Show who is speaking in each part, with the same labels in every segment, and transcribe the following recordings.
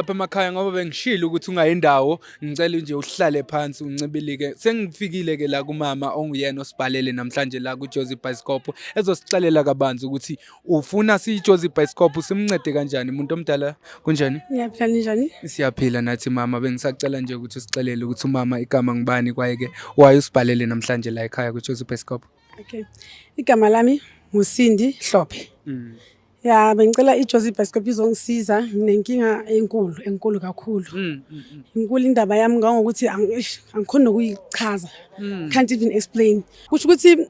Speaker 1: apha emakhaya ngoba bengishilo ukuthi ungayi ndawo ngicela nje uhlale phansi uncibilike sengifikile ke la kumama onguyena osibhalele namhlanje la kuJozi Bicycle ezosixelela kabanzi ukuthi ufuna siJozi Bicycle simncede kanjani umuntu omdala kunjani Ngiyaphila njani
Speaker 2: Siyaphila nathi
Speaker 1: mama bengisacela nje ukuthi usixelele ukuthi umama igama ngibani kwaye ke waye usibhalele namhlanje la ekhaya kuJozi Bicycle Okay
Speaker 2: igama lami nguSindi Hlophe mm. Ya bengicela iJozi Bioscope izongisiza nginenkinga enkulu enkulu kakhulu. Mm, mm, mm. Inkulu indaba yami ngangokuthi angikhona ukuyichaza. Mm. Can't even explain. Kusho ukuthi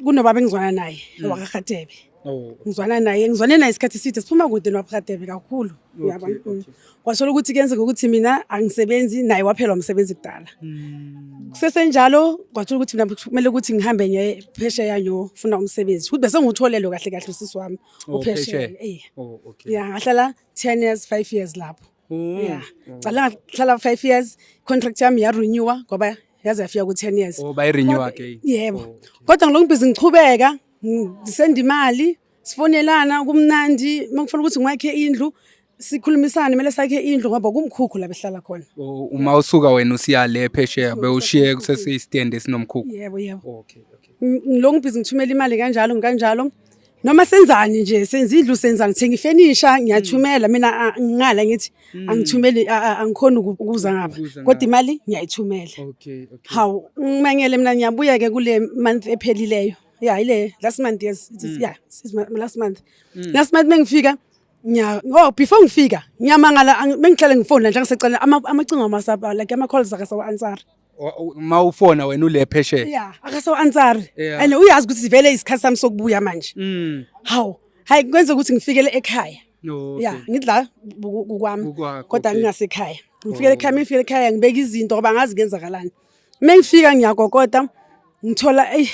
Speaker 2: kunobaba engizwana naye mm. wakakhatebe. Oh. Ngizwana naye ngizwane naye isikhathi eside siphuma kude nobakhatebe kakhulu. Uyabona? Mm. wathola ukuthi kuyenzeka ukuthi mina angisebenzi naye waphela umsebenzi kudala hmm. kusesenjalo kwathola ukuthi mina kumele ukuthi ngihambe ngiye phesheya ngiyofuna umsebenzi ukuthi bese ngiwutholelwe kahle kahle usisi wami oh, uphesheya eh. oh, ya ngahlala ten years five years lapho hmm. ya cala ngahlala five years contract yami yarenewa ngoba yaze yafika ku-ten years oh,
Speaker 1: yebo kodwa
Speaker 2: ngilokhu bhizi ngichubeka ngisenda imali sifonelana kumnandi makufuna ukuthi ngiwakhe indlu sikhulumisane kumele sakhe indlu ngoba kumkhukhu la behlala khona O- uma usuka
Speaker 1: wena usiya le phesheya bewushiye kusesiyistende esinomkhukhu yebo yebo okay
Speaker 2: okay Ng- ngilokhu ngibhizi ngithumela imali kanjalo ngikanjalo noma senzani nje senza indlu senzani thenga ifenisha ngiyathumela mina a- ngingala ngithi angithumeli a- a- angikhoni uku- ukuza ngapha Ukuza kodwa ngapha. imali ngiyayithumela okay okay
Speaker 1: hawu
Speaker 2: ngimangele mina ngiyabuya-ke kule month ephelileyo ya yile last month yes it is mm. yeah since last month mm. last month mengifika nya oh before ngifika ngiyamangala mengihlale ngifone nje ngisecela amacingo ama WhatsApp like ama calls aka sawa answer ma ufona
Speaker 1: wena ule phesheya yeah aka sawa answer
Speaker 2: and uyazi ukuthi sivele isikhathi sami sokubuya manje mm haw hayi kwenza ukuthi ngifikele ekhaya ya ngidla kukwami kodwa ngingasekhaya ngifikele ekhaya mengifikele ekhaya ngibeka izinto ngoba ngazi kenzakalani Uma ngifika ngiyakokota ngithola eyi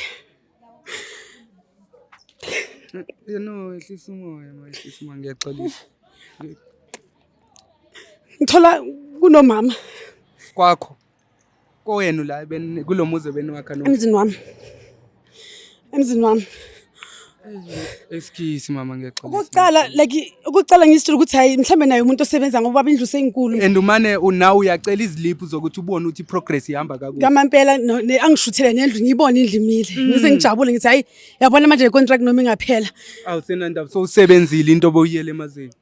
Speaker 1: no ehlisa umoya ma ehlisa umoya ngiyaxolisa
Speaker 2: ngithola kunomama kwakho
Speaker 1: kowenu la kulo muzi ebeniwakha emzini wami
Speaker 2: emzini wami Excuse
Speaker 1: mama ngiyaxolisa. Ukucala like ukucala
Speaker 2: ngisitshela ukuthi hayi mhlambe naye umuntu osebenza ngoba indlu senkulu. And umane unaw
Speaker 1: uyacela iziliphu zokuthi ubone ukuthi progress ihamba kakuhle. Ngamampela
Speaker 2: angishuthele nendlu ngiyibone indlimile. Mm. Ngise ngijabule ngithi hayi yabona manje le contract noma ingaphela. Awusenandaba so
Speaker 1: usebenzile into obuyele emazweni.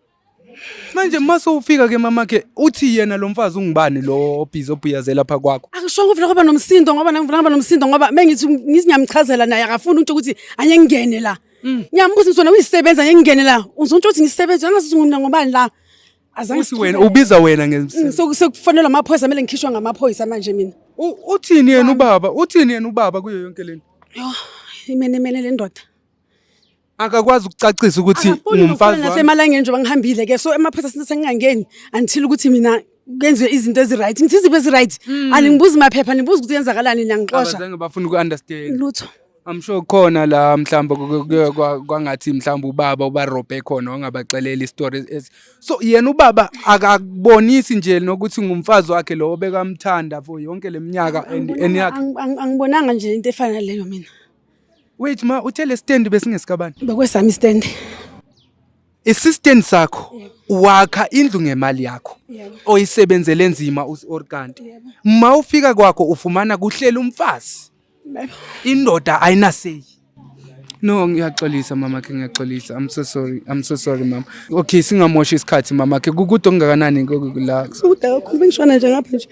Speaker 1: Manje mase ufika ke mamakhe uthi yena lo mfazi ungubani lo obhizi obhiyaze lapha kwakho. Angishongo ufuna kuba nomsindo
Speaker 2: ngoba nami ngifuna kuba nomsindo ngoba mengithi ngithi ngiyamchazela naye akafuni uthi ukuthi anye ngingene la. Mm. Ngiyambuza ukuthi wena uyisebenza anye ngingene la. Uzontsho ukuthi ngisebenza angazi ukuthi ngumna ngobani la. Azange Uthi wena
Speaker 1: ubiza wena ngemsindo. Mm, sekufanele amaphoyisa kumele
Speaker 2: ngikhishwe ngamaphoyisa manje mina. Uthini yena
Speaker 1: ubaba? Uthini yena ubaba kuyo yonke lento? Yho,
Speaker 2: imenemene le ndoda.
Speaker 1: akakwazi ukucacisa ukuthi ungumfazi wami nasemalangeni njengoba ngihambile
Speaker 2: ke so emaphoyisa since sengingangeni until ukuthi mina kwenziwe izinto eziright ngithi iziphi eziright hmm. aningibuzi maphepha nibuza ukuthi yenzakalani niyangixosha abazange bafuna uku-understand
Speaker 1: lutho I'm sure
Speaker 2: khona
Speaker 1: la mhlamba kwangathi mhlamba ubaba ubarobhe khona wangabaxelela istory so yena ubaba akakubonisi nje nokuthi ngumfazi wakhe lowo bekamthanda for yonke leminyaka and eniyakhe angibonanga nje
Speaker 2: into efana leyo mina Wait
Speaker 1: ma, uthe le stand besingesikabani? Bekwesami istand. Isistand sakho wakha indlu ngemali yakho oyisebenzele nzima or kanti ma ufika kwakho ufumana kuhlela umfazi indoda ayinaseyi No ngiyaxolisa mama ke ngiyaxolisa I'm so sorry I'm so sorry mama Okay singamoshi isikhathi mama ke kukude ongakanani la Kude kakhulu bengishona
Speaker 2: nje ngapha nje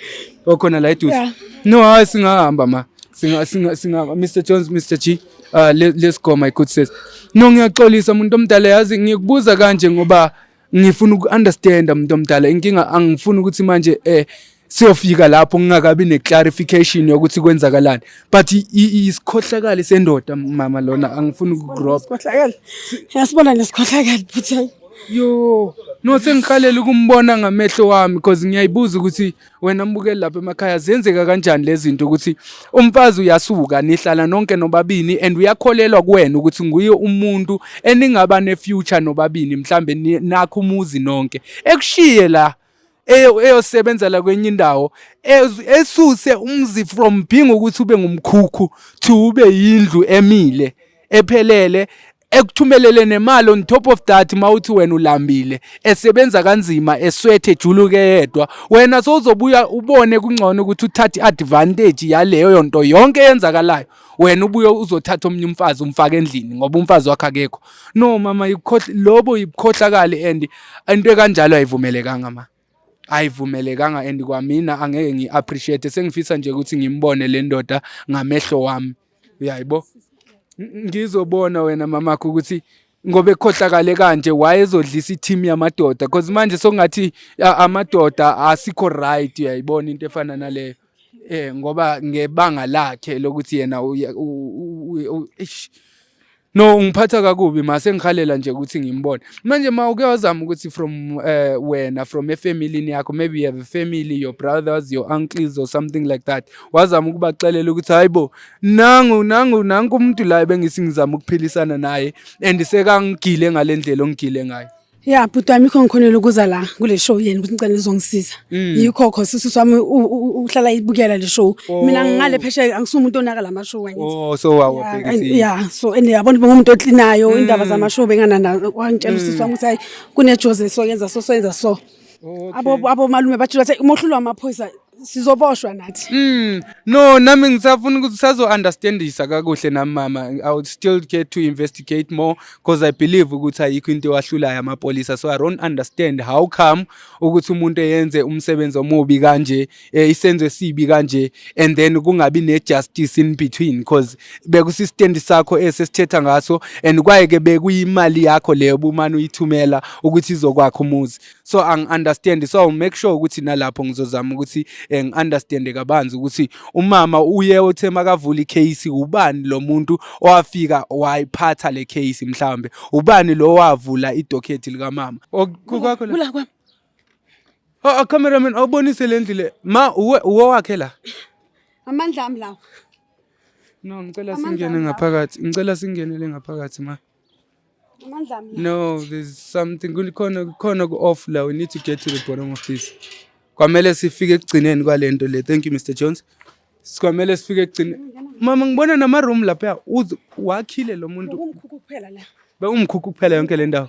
Speaker 2: okhona la eduze
Speaker 1: Yeah. no hayi singahamba ma singa singa singa Mr Jones Mr G uh, le- let's go my good sis no ngiyaxolisa umuntu omdala yazi ngikubuza kanje ngoba ngifuna uku understand umuntu omdala inkinga angifuni ukuthi manje eh siyofika lapho ngingakabi ne clarification yokuthi kwenzakalani but i- i- isikhohlakali sendoda mama lona angifuni ukugrob Sikhohlakele.
Speaker 2: Yasibona lesikhohlakele bhuti. yo
Speaker 1: no sengikhalela ukumbona ngamehlo wami because ngiyayibuza ukuthi wena mbukeli lapha emakhaya ziyenzeka kanjani lezi zinto ukuthi umfazi uyasuka nihlala nonke nobabini and uyakholelwa kuwena ukuthi nguye umuntu eningaba ne-future nobabini mhlambe nakho umuzi nonke ekushiye la eyosebenza la kwenye indawo esuse umzi from being ukuthi ube ngumkhukhu to ube yindlu emile ephelele ekuthumelele nemali on top of that mawuthi wena ulambile esebenza kanzima eswethe juluke yedwa wena sowuzobuya ubone kungcono ukuthi uthathe advantage yaleyo yonto yonke eyenzakalayo wena ubuye uzothatha omunye umfazi umfake endlini ngoba umfazi wakhe akekho no mama yikhohle lobo yikhohlakali and into ekanjalo ayivumelekanga mama ayivumelekanga and kwamina angeke ngi appreciate sengifisa nje ukuthi ngimbone le ndoda ngamehlo wami uyayibo ngizobona wena mamakho ukuthi ngoba ekhohlakale kanje wayezodlisa i-team yamadoda because manje sokungathi amadoda asikho right uyayibona into efana naleyo eh ngoba ngebanga lakhe lokuthi yena no ngiphatha kakubi mase ngikhalela nje ukuthi ngimbone manje ma uke wazama ukuthi from uh, wena from efamily yakho maybe you have a family your brothers your uncles or something like that wazama ukubaxelela ukuthi hayibo nangu nangu nangu umuntu la ebengisi ngizama ukuphilisana naye and sekangigile ngalendlela ongigile ngayo ya bhuti wami ikho
Speaker 2: ngikhonela ukuza la kule show yena ukuthi ngicela nizongisiza mm. yikho kho sisi wami uhlala ibukela le show oh. mina ngingale phesheya angisuye umuntu onaka la mashow wangithi oh so wawabhekisi
Speaker 1: ya so and yabona
Speaker 2: uba umuntu otlinayo mm. indaba zama show bengana na wangitshela usisi mm. wami ukuthi hayi kune Jose so yenza so so yenza so abo abo malume bathi bathi umohlulo wamaphoyisa sizoboshwa nathi mm. no nami
Speaker 1: ngisafuna ukuthi sazo-understandisa kakuhle nami mama i would still get to investigate more because i believe ukuthi ayikho into ewahlulayo amapolisa so i don't understand how come ukuthi umuntu eyenze umsebenzi omubi kanje eh, isenzo esibi kanje and then kungabi ne-justice in between because bekusistendi sakho esesithetha ngaso and kwaye-ke bekuyimali yakho leyo bumane uyithumela ukuthi izokwakha umuzi so angi-understand so make sure ukuthi nalapho ngizozama ukuthi eh, ngi-understande kabanzi ukuthi umama uye othe makavula ikheyisi ubani lo muntu owafika wayiphatha le kheyisi mhlawumbe ubani lo wavula idokhethi likamama kukwakho la kwami
Speaker 2: Oh, oh cameraman
Speaker 1: awubonise le ndlu le ma uwe uwe wakhe la amandla
Speaker 2: ami lawo no
Speaker 1: ngicela singene ngaphakathi ngicela singenele ngaphakathi ma
Speaker 2: no there's
Speaker 1: something kulikhona kukhona ku-off la we need to get to the bottom of this kwamele sifike ekugcineni kwale nto le thank you mr jones sikwamele sifike ekugcineni mama ngibona namaroom lapha wakhile lo muntu
Speaker 2: bekumkhukhu kuphela yonke
Speaker 1: le ndawo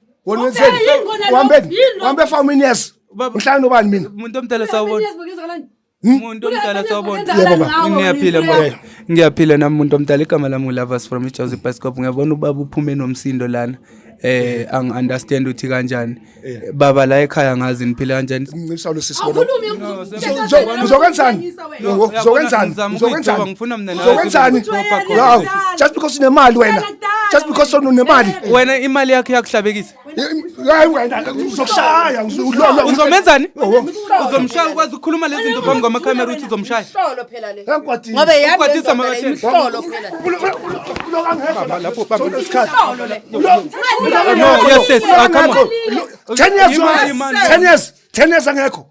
Speaker 3: wena wenzeni Ubheke yini kona lo? wambeni Yini lo? wambe for many years Baba- mhlawumbe nobani mina umuntu omdala sawubona
Speaker 1: umuntu omdala sawubona Yebo, baba. ngiyaphila mama
Speaker 3: Yebo. ngiyaphila
Speaker 1: nami muntu omdala igama lami ulavas from ijozi biskop ngiyabona ubaba uphume nomsindo lana eh angi-understand ukuthi kanjani baba la ekhaya ngazi niphile kanjani ngincisa lo sisi wena.
Speaker 3: Awukhulumi Ngizokwenzani? uzokwenzani uzokwenzani
Speaker 1: uzokwenzani wow just
Speaker 3: because unemali wena just because unemali wena imali yakho
Speaker 1: iyakuhlabekisa hayi
Speaker 3: wena uzokushaya uzomenzani
Speaker 1: uzomshaya ukwazi ukukhuluma lezi zinto phambi kwamakhamera ukuthi uzomshaya
Speaker 4: ngobe yadisa
Speaker 1: lapho bamba
Speaker 4: isikhathi no
Speaker 1: yes yes ah, come on 10 years 10 years
Speaker 3: 10 years angekho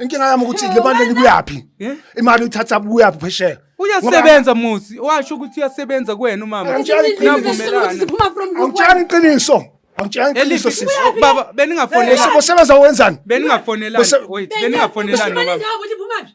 Speaker 1: inkinga yami ukuthi le
Speaker 3: mali likuyaphi Eh? imali uyithatha kuyaphi phesheya uyasebenza muzi
Speaker 1: washo ukuthi uyasebenza kuwena umama Angitshali iqiniso. Navumelana. siphuma from group
Speaker 3: angitshani iqiniso angitshani iqiniso Eliphi- sisi baba Bese- beningafonelani
Speaker 1: bosebenza wenzani beningafonelani Bese- wait beningafonelani
Speaker 3: baba
Speaker 1: ukuthi phumaphi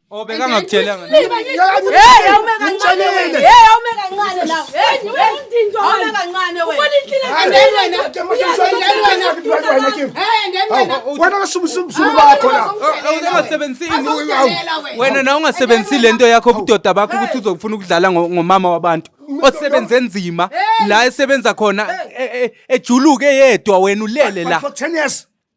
Speaker 4: Oh beka ngakutshela
Speaker 1: ngani? Hey awume
Speaker 4: kancane wena. Hey awume kancane la. Hey niwe indinto awume kancane wena. Ubona inhlile ngene wena. Hey ngene wena. Wena kasubu subu subu
Speaker 3: bakho la. Ungasebenzisi
Speaker 1: wena na ungasebenzisi lento yakho ubudoda bakho ukuthi uzokufuna ukudlala ngomama wabantu. osebenze nzima la esebenza khona ejuluke yedwa wena ulele la.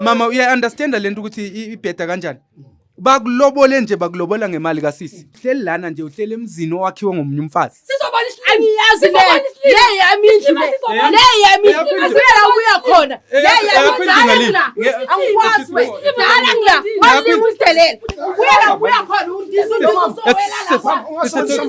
Speaker 1: mama uya understand lento ukuthi ibheda kanjani bakulobole nje bakulobola ngemali kasisi uhleli lana nje uhleli emzini owakhiwe ngomunye umfazi angiyazi
Speaker 4: le yami indlu le yami asibela ukuya khona le yami angikwazi dala ngila walimu usidelela uyela ukuya khona undisa
Speaker 1: undisa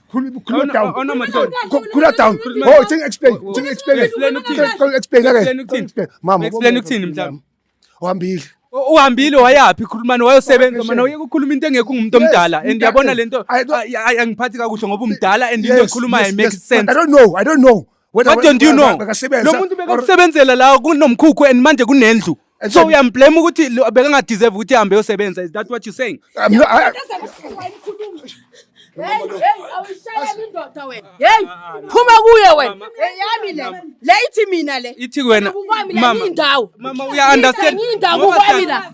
Speaker 1: Cool,
Speaker 3: cool it down. Oh, no, cool, cool, cool it down. Oh, thing explain. Thing explain. Explain ukuthini? Cool, explain again. Explain ukuthini? Explain. Mama. Explain ukuthini mhlawumbe?
Speaker 1: Uhambile.
Speaker 3: U- Uhambile wayaphi
Speaker 1: khulumani wayosebenza Vacation. mana uyeke ukukhuluma into engekho ungumuntu Yes, omdala and mdala. yabona lento I don't- ay- ay- angiphathi kakuhle ngoba umdala and into Yes, ekhulumayo yes, it makes yes. But I sense. don't know. I don't know.
Speaker 3: What don't you know?
Speaker 1: Lo muntu bekakusebenzela la kunomkhukhu and manje kunendlu. So uyamblame ukuthi lo- bekangadeserve ukuthi ahambe yosebenza. Is that what you're saying? I'm not- I- Hey, hey, awuyishayeli
Speaker 4: indoda wena. Hey, phuma kuye wena. Eyami le. Le ithi mina le. Ithi wena Kukwami la
Speaker 1: mama. yindawo.
Speaker 4: Mama uya understand.
Speaker 1: Yindawo Ngoba kukwami siyaz-
Speaker 4: la.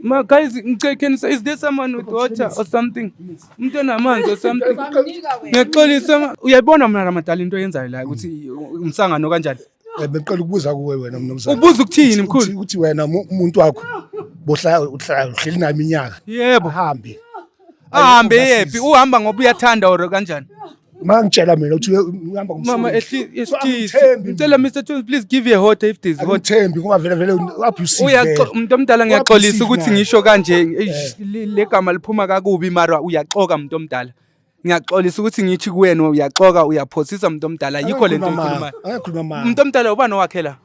Speaker 1: Ma guys, ngicela can say is there someone with water or something? Umuntu onamanzi or something? Ngiyaxolisa ma- uyayibona mina ramadala into oyenzayo la ukuthi umsangano kanjani? Eh, Bengicela ukubuza
Speaker 3: kuwe wena mnumzane. Ubuza ukuthini Ukuthi- mkhulu?
Speaker 1: Ukuthi wena mu- umuntu
Speaker 3: wakho bohlala uhlala uhleli nami inyaka. Yebo. Ahambe. ahambe yephi uhamba
Speaker 1: ngoba uyathanda or kanjani mangitshela mina
Speaker 3: ukuthi uhamba mama ngicela
Speaker 1: mr jones please give you a hot if there's hot thembi ngoba vele vele
Speaker 3: abusive umuntu omdala
Speaker 1: ngiyaxolisa ukuthi ngisho kanje eh. le gama liphuma kakubi mara uyaxoka umuntu omdala ngiyaxolisa ukuthi ngithi kuwena uyaxoka uyaphosisa umuntu omdala yikho lento ikhuluma umuntu omdala ubani owakhela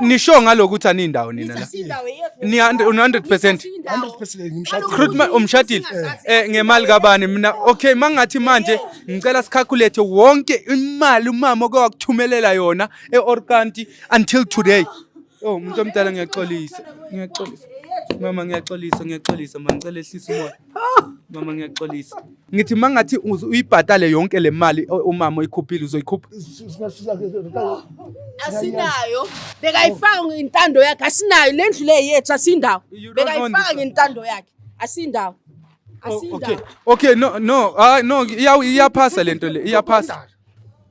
Speaker 1: nisho ngalokuthi anindawo nina la ni 100% umshadile eh ngemali kabani mina okay mangathi manje ngicela sicalculate wonke imali umama oke wakuthumelela yona eOrkanti until today oh umuntu omdala ngiyaxolisa ngiyaxolisa mama ngiyaxolisa ngiyaxolisa mangicela ehlisa umoya mama ngiyaxolisa ngithi uma ngathi uze uyibhatale yonke le mali o- umama oyikhuphile uzoyikhupha
Speaker 4: asinayo bekayifaka ngentando yakhe asinayo le ndlu le yethu asindawo You don't own bekayifaka this. ngentando yakhe asindawo Oh,
Speaker 1: okay asindawo okay no no ah no iya- iyaphasa lento le iyaphasa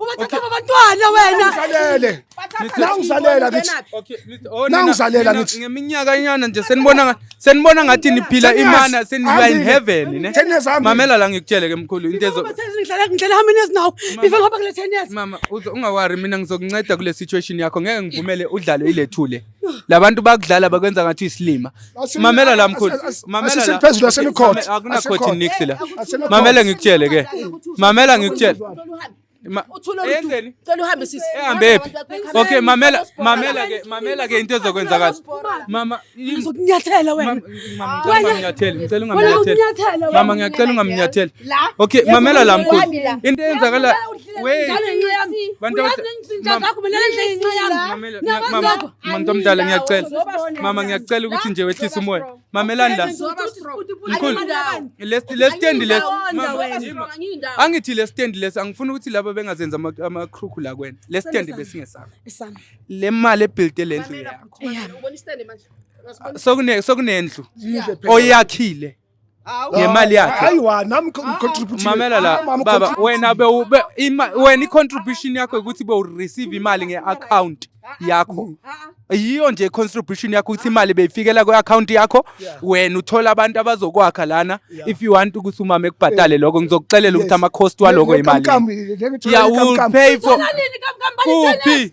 Speaker 2: Ubathatha abantwana wena. Ngizalele. Nangizalela
Speaker 3: kithi. Okay, Mr. Oh, nina-
Speaker 1: Nangizalela nina
Speaker 3: ngithi. ngeminyaka inyana nje
Speaker 1: senibona nga- senibona ngathi niphila Ten years. imana seniya in Hambile. heaven ne Ten years hambile. mamela la ngikutshele ke mkhulu into ezo Ngidlala ngidlala how many years
Speaker 2: now? Before ngihamba kule 10 years. mama uzo- ungawari mina
Speaker 1: ngizokunceda kule situation yakho ngeke ngivumele udlale ilethule labantu bakudlala bakwenza ngathi isilima mamela la mkhulu mamela la phezulu asenikhothi
Speaker 3: akunakhothi nix la
Speaker 1: mamela ngikutshele ke mamela ngikutshele ehambephi
Speaker 4: okay mamela mamela
Speaker 1: ke mamela ke into ezokwenzakala mama ngizokunyathela
Speaker 2: wena nginyathela
Speaker 1: ngicela ungamnyathela mama ngiyacela ungamnyathela okay mamela la mkhulu into eyenzakala Mama omdala ngiyacela. Mama ngiyacela ukuthi nje wehlise umoya. Mamelani la. Mkhulu. Lesi lesi stand lesi. Angithi lesi stand lesi angifuni ukuthi laba bengazenza ama crook la kwena. Lesi stand besingesakho. Le
Speaker 2: mali
Speaker 1: ebuild le ndlu yakho.
Speaker 4: Sokune sokunendlu
Speaker 1: oyakhile. ngemali yakhe. Ayiwa nami
Speaker 3: ngicontribute. Mamela la baba
Speaker 1: wena be wena i-contribution yakho ukuthi be receive imali nge-account yakho. Yiyo nje contribution yakho ukuthi imali beyifikela kwi-account yakho wena uthola abantu abazokwakha lana if you want ukuthi umama ekubhatale lokho ngizokuxelela ukuthi ama-cost waloko imali. Yeah, will pay for kuphi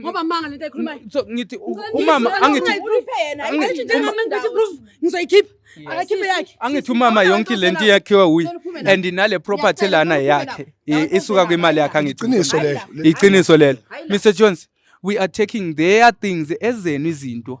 Speaker 2: ngoba manga lento ayikhulumayo
Speaker 1: so ngithi umama angithi
Speaker 2: ngizoyikhipha akakhiphe yakhe angithi umama yonke
Speaker 1: lento yakhiwe uyi and nale property lana yakhe isuka kwimali yakhe angiqiniso lelo iqiniso lelo Mr Jones we are taking their things ezenu izinto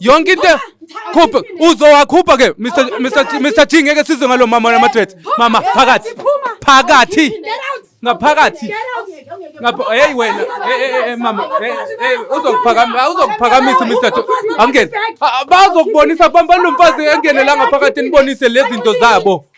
Speaker 1: yonke into khupha uzowakhupha ke Mr Mr Mr G ngeke sizwe ngalo mama nama threat mama phakathi phakathi ngaphakathi ngapha hey wena hey eh, eh, eh, mama hey uzokuphakamisa uzokuphakamisa Mr angene bazokubonisa bamba nomfazi engene la ngaphakathi nibonise lezi zinto zabo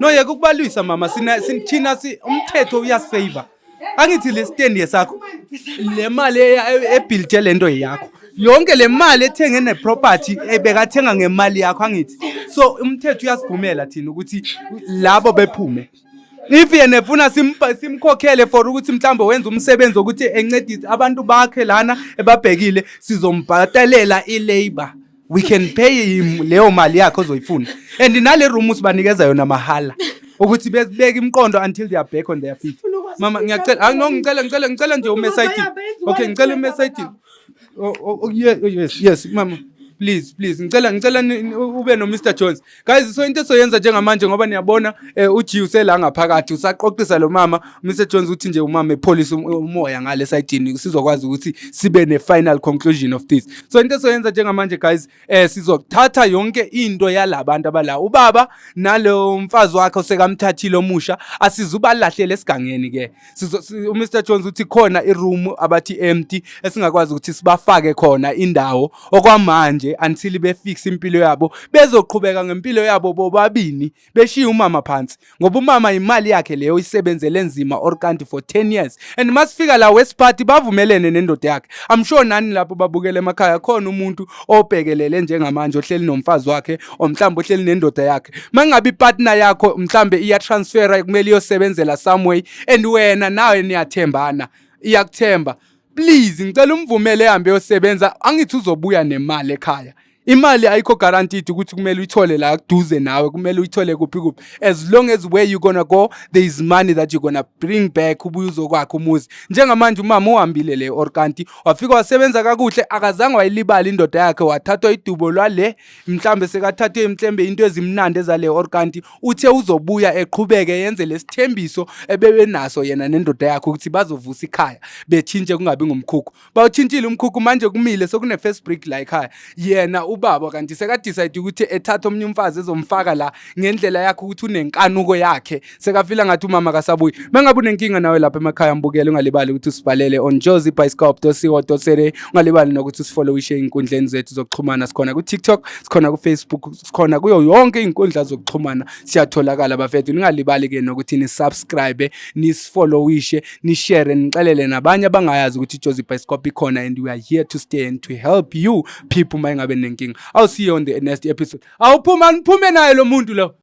Speaker 1: No yeke ukubalwisa mama sina sithina si umthetho uyasifavor. Angithi le stand yesakho le mali ebuilt lento yakho. Yonke le mali ethenge ne property ebekathenga ngemali yakho angithi. So umthetho uyasivumela thina ukuthi labo bephume. If yena efuna simkhokhele for ukuthi mhlawumbe wenza umsebenzi wokuthi encedise abantu bakhe lana ebabhekile sizombhatalela i-labor. we can pay him leyo mali yakhe ozoyifuna and nale room sibanikeza yona mahala ukuthi bezibeke imiqondo until they are back on their feet mama ngiyacela hayi no ngicela ngicela ngicela nje ume side okay ngicela ume side oh, oh, oh, oh yes mama please please ngicela ngicela ube no Mr Jones Guys so into esoyenza njengamanje ngoba niyabona eh, uJi usela ngaphakathi usaqoqisa lo mama Mr Jones uthi nje umama epholisa um, umoya ngale side sizokwazi ukuthi sibe ne final conclusion of this so into esoyenza njengamanje guys eh sizothatha yonke into yalabantu abala ubaba nalo mfazi wakhe osekamthathile omusha asizubalahlele esigangeni ke uMr Jones uthi khona iroom abathi empty esingakwazi ukuthi sibafake khona indawo okwamanje until befix impilo yabo bezoqhubeka ngempilo yabo bobabini beshiye umama phansi ngoba umama imali yakhe leyo isebenzele nzima or kanti for 10 years and masifika la west party bavumelene nendoda yakhe i'm sure nani lapho babukele emakhaya khona umuntu obhekelele njengamanje ohleli nomfazi wakhe or mhlawumbe uhleli nendoda yakhe uma kungabe ipartner yakho mhlawumbe iyatransfera kumele iyosebenzela some way and wena nawe niyathembana iyakuthemba please ngicela umvumele ehambe yosebenza angithi uzobuya nemali ekhaya imali ayikho guaranteed ukuthi kumele uyithole la kuduze nawe kumele uyithole kuphi kuphi as long as where you gonna go there is money that you gonna bring back ubuye uzokwakha umuzi njengamanje umama uhambile le or kanti wafika wasebenza kakuhle akazange wayilibala indoda yakhe wathathwa idubo lwale mhlambe sekathathwe imhlembe into ezimnandi ezale or kanti uthe uzobuya eqhubeke yenze lesithembiso ebebenaso yena nendoda yakhe ukuthi bazovusa ikhaya bethintshe kungabi ngumkhukhu bawuthintshile umkhukhu manje kumile sekune first break la ekhaya yena ubaba kanti sekadecide ukuthi ethatha omnye umfazi ezomfaka la ngendlela yakhe ukuthi unenkanuko yakhe sekafila ngathi umama kasabuyi mengabe unenkinga nawe lapha emakhaya mbukele ungalibali ukuthi usibhalele on jozi bioscope co za ungalibali nokuthi usifollowishe ey'nkundleni zethu zokuxhumana sikhona ku-tiktok sikhona ku-facebook sikhona kuyo yonke iy'nkundla zokuxhumana siyatholakala bafethu ningalibali-ke nokuthi nisubscribe nisifollowishe nishere nixelele nabanye abangayazi ukuthi ijozi bioscope ikhona and we are here to stay and to help you people uma ingabe nenkinga awusiyo on the next episode awuphuma niphume naye lo muntu lo